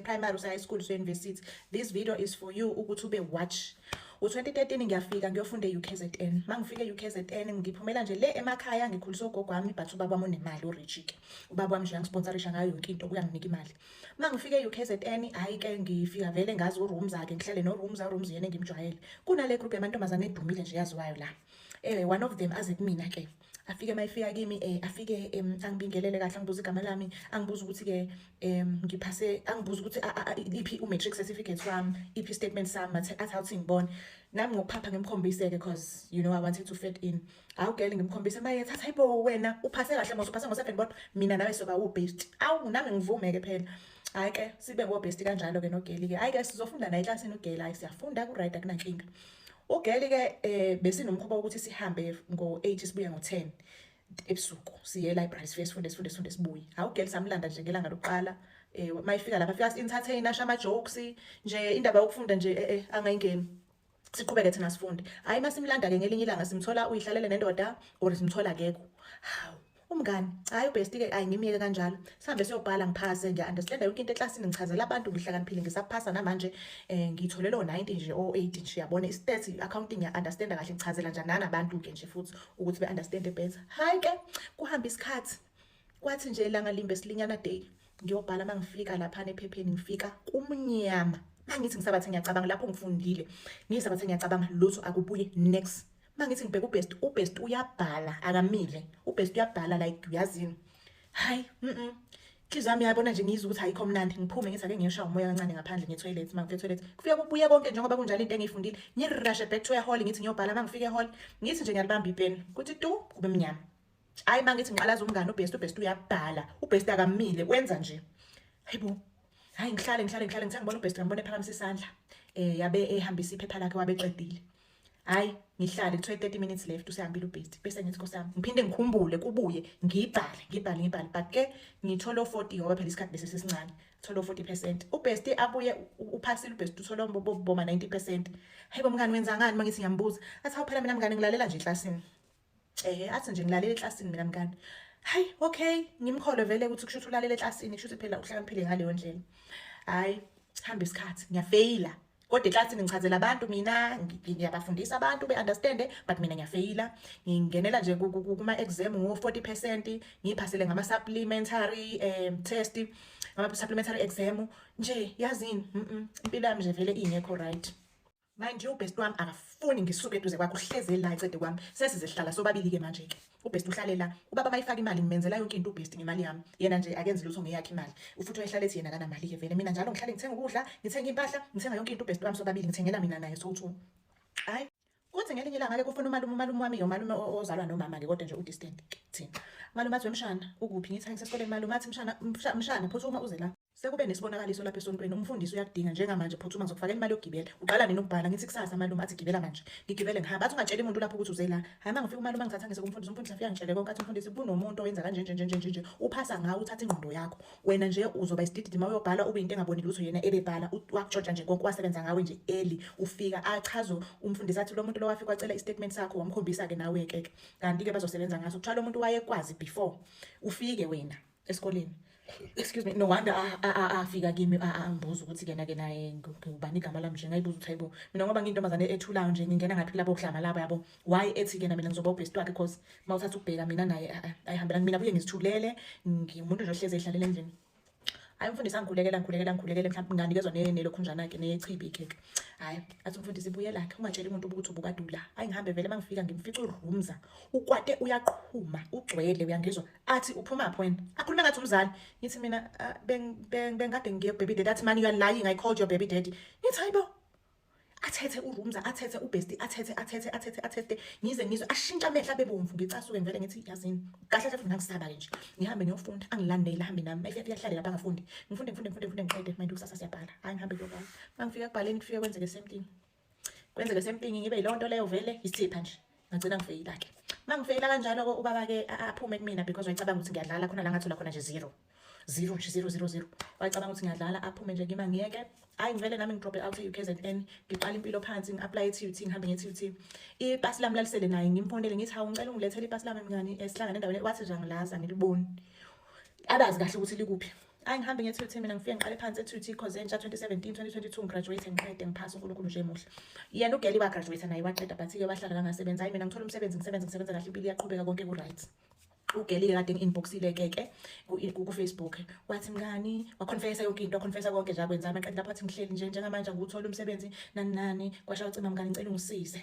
primary usa high school usa university this video is for you ukuthi ube watch u-2013 ngiyafika ngiyofunda e-ukzn uma ngifika e-ukzn ngiphumela nje le emakhaya ngikhulisa ugogo wami but ubaba wami unemali urijike ubaba wami nje angisponsorisha ngayo yonke into kuyanginika imali uma ngifika e-ukzn hhayi-ke ngifika vele ngazi uroom zakhe ngihlele no-room za-room ziyena engimjwayele kunale group yamantombazane edumile nje yaziwayo la um one of them aze kumina-ke afike uma efika kimi um afike um angibingelele kahle angibuze igama lami angibuze ukuthi-ke um ngiphase angibuze ukuthi iphi u-matric certificate wami iphi i-statement sami athi awuthi ngibone nami ngokuphapha ngimkhombise-ke cause you know i wanted to fit in awu gele ngimkhombise maye thatha ibo wena uphase kahle mos uphase ngo-seven bodwa mina nawe soba wu-best awu nami ngivume-ke phela hhayi ke sibe ngo-best kanjalo-ke nogeli-ke hhayi ke sizofunda naye eklasini ugeli hhayi siyafunda ku-right akunankinga Ugeli ke eh besinomkhuba ukuthi sihambe ngo-8 sibuye ngo-10 ebusuku siye library sife sifunde sifunde sifunde sibuye. Hawu girl samlanda nje ngelanga lokuqala eh mayifika lapha fika entertain asha ama jokes nje indaba yokufunda nje eh, eh angayingeni. Siqhubeke thina sifunde. Hayi masimlanda ke ngelinye ilanga simthola uyihlalele nendoda or simthola kekho. Hawu Umngani, hayi ubesti ke ayi ngimyeke kanjalo. Sihambe siyobhala ngiphase ngiya understand yonke into eclassini ngichazela abantu ngihlakaniphile ngisaphasa namanje eh ngitholele o 90 nje o 80 nje yabona i stats accounting ya understand kahle ngichazela njani nanabantu ke nje futhi ukuthi be understand better. Hayi ke kuhamba isikhathi kwathi nje ilanga limbe silinyana day ngiyobhala mangifika lapha nephepheni ngifika kumnyama mangithi ngisabathe ngiyacabanga lapho ngifundile ngisabathe ngiyacabanga lutho akubuye next uma ngithi ngibheka ubest ubest uyabhala akamile ubest uyabhala like uyazini hayi mm inhliziyo yami yabona nje ngiyizwa ukuthi ayikho mnandi ngiphume ngithi ake ngiyoshawa umoya kancane ngaphandle ngetoilet uma ngifetoilet kufike kubuye konke njengoba kunjalo into engiyifundile ngirashe back to ehall ngithi ngiyobhala uma ngifike ehall ngithi nje ngiyalibamba ipeni kuthi tu kube mnyama hayi uma ngithi ngiqalaza umngane ubest ubest uyabhala ubest akamile wenza nje hayi bo hayi ngihlale ngihlale ngihlale ngithangibona ubest ngambona ephakamisa isandla um yabe ehambisa iphepha lakhe wabeqedile hayi ngihlale kuthiwa 30 minutes left usehambile ubhesti bese ngithi nkosami ngiphinde ngikhumbule kubuye ngibhale ngibhale ngibhale but ke ngithole 40 ngoba phela isikhathi bese sesincane thole 40% ubhesti abuye uphasile ubhesti uthole boma 90% hayibo mngani wenzangani mangithi ngiyambuza athi awuphela mina mngani ngilalela nje eklasini Ehe athi nje ngilalele eklasini mina mngani. Hayi okay ngimkholwe vele ukuthi kusho ukuthi ulalele eklasini kusho ukuthi phela uhlakaniphile ngaleyo ndlela. Hayi hamba isikhathi ngiyafeyila kodwa eklasini ngichazela abantu mina ngiyabafundisa abantu be-understande but mina ngiyafeyila ngingenela nje kuma-exam ngo-forty percent ngiyiphasele ngama-supplementary um test ngama-supplementary exam nje yazini impilo yami nje vele ingekho right Mind you best wami akafuni ngisuke eduze kwakhe uhleze la ecede kwami sesize sihlala sobabili ke manje ke ubest uhlale la ubaba mayifaka imali ngimenzela yonke into ubest ngemali yami yena nje akenzi lutho ngeyakhe imali ufuthi uyahlala ethi yena kana mali ke vele mina njalo ngihlale ngithenga ukudla ngithenga impahla ngithenga yonke into ubest wami sobabili ngithengela mina naye so two hayi kuthi ngelinye ilanga ke kufuna umalume umalume wami yomalume ozalwa nomama ke kodwa nje udistant thina malume athi wemshana ukuphi ngithi angisesikoleni malume athi mshana mshana phuthuma uze la Sekube nesibonakaliso lapha esontweni umfundisi uyakudinga njengamanje phuthuma ngizokufakela imali yokugibela. Uqala nini ukubhala ngithi kusasa malume athi gibela manje. Ngigibele ngihamba athi ungatsheli umuntu lapho ukuthi uze la. Hayi mangifika umalume angithatha ngise kumfundisi umfundisi afika ngitshele konke athi umfundisi kunomuntu owenza kanje nje nje nje nje uphasa ngawo uthatha ingqondo yakho. Wena nje uzoba isidididi uma uyobhala ube into engaboni lutho yena ebebhala wakutshotsha nje konke wasebenza ngawe nje eli ufika achazo umfundisi athi lo muntu lo wafika wacela istatement sakho wamkhombisa ke nawe ke kanti ke bazosebenza ngaso kuthiwa lo muntu wayekwazi before ufike wena esikoleni excuse me no wonder a- a- a- afika kimi a- a- angibuza ukuthi kena ke naye ngi- ngubani igama lami nje ngayibuza ukuthi hayibo mina ngoba ngiyintombazane ethulayo nje ngingena ngaphi kulabo kuhlanga labo yabo why ethi kena mina ngizoba ubest wakhe cause uma uthatha ukubheka mina naye a- a- ayihambelani mina buye ngizithulele ngimuntu nje ohlezi ehlalele endlini hayi mfundisi angikhulekela ngikhulekela ngikhulekele mhlawumbe nganikezwa ne- nelokhunjana-ke neyechibi ikhekhe hhayi athi umfundisi buyelakhe ungatsheli umuntu ukuthi ubukadula hayi ngihambe vele uma ngifika ngimfica urumza ukwate uyaqhuma ugcwele uyangizwa athi uphumaphi wena akhulume ngathi umzali ngithi mina ah, bengikade ngiye kubaby daddy athi mani you're lying i called your baby daddy ngithi hayi bo athethe urumza athethe ubesti athethe athethe athethe athethe ngize ngizwe ashintsha amehla bebomvu ngicasuke ngivele ngithi yazini kahle kahle ngangisaba ke nje ngihambe ngiyofunda angilandele hambe nami mayifika kuyahlale lapha ngafundi ngifunde ngifunde ngifunde ngifunde ngiqede manje kusasa siyabhala hayi ngihambe kuyobhala mangifika kubhaleni kufike kwenzeke same thing kwenzeke sempingi ngibe yilonto leyo vele isipha nje ngagcina ngifeyila ke mangifeyila kanjalo ko ubaba ke aphume kumina because wayicabanga ukuthi ngiyadlala khona la ngathola khona nje zero zero nje zero zero zero wayicabanga ukuthi ngiyadlala aphume nje ngima ngiyeke hayi ngivele nami ngidrope out e-ukzn ngiqala impilo phansi ngi-aplaye e-tut ngihambe nge-tut ipasi lami lalisele naye ngimphondele ngithi hawu ngicela ungilethele ipasi lami mngani esihlangane endaweni wathi nje angilazi angiliboni abazi kahle ukuthi likuphi Ayi ngihambe nge-TUT mina ngifike ngiqale phansi e-TUT cause entsha 2017 2022 ngigraduate ngiqede ngiphasa uNkulunkulu nje muhle. Yena ugeli wagraduate naye waqeda but ke wahlala kangasebenza. Hayi mina ngithola umsebenzi ngisebenza ngisebenza kahle impilo iyaqhubeka konke ku right. ugelile kade ngi-inboxile keke kufacebook wathi mngani waconfessa yonke into waconfessa konke nje akwenza amaqedi lapho athi ngihleli nje njengamanje angiwutholi umsebenzi nani nani kwasha wacima mngani ngicela ungisize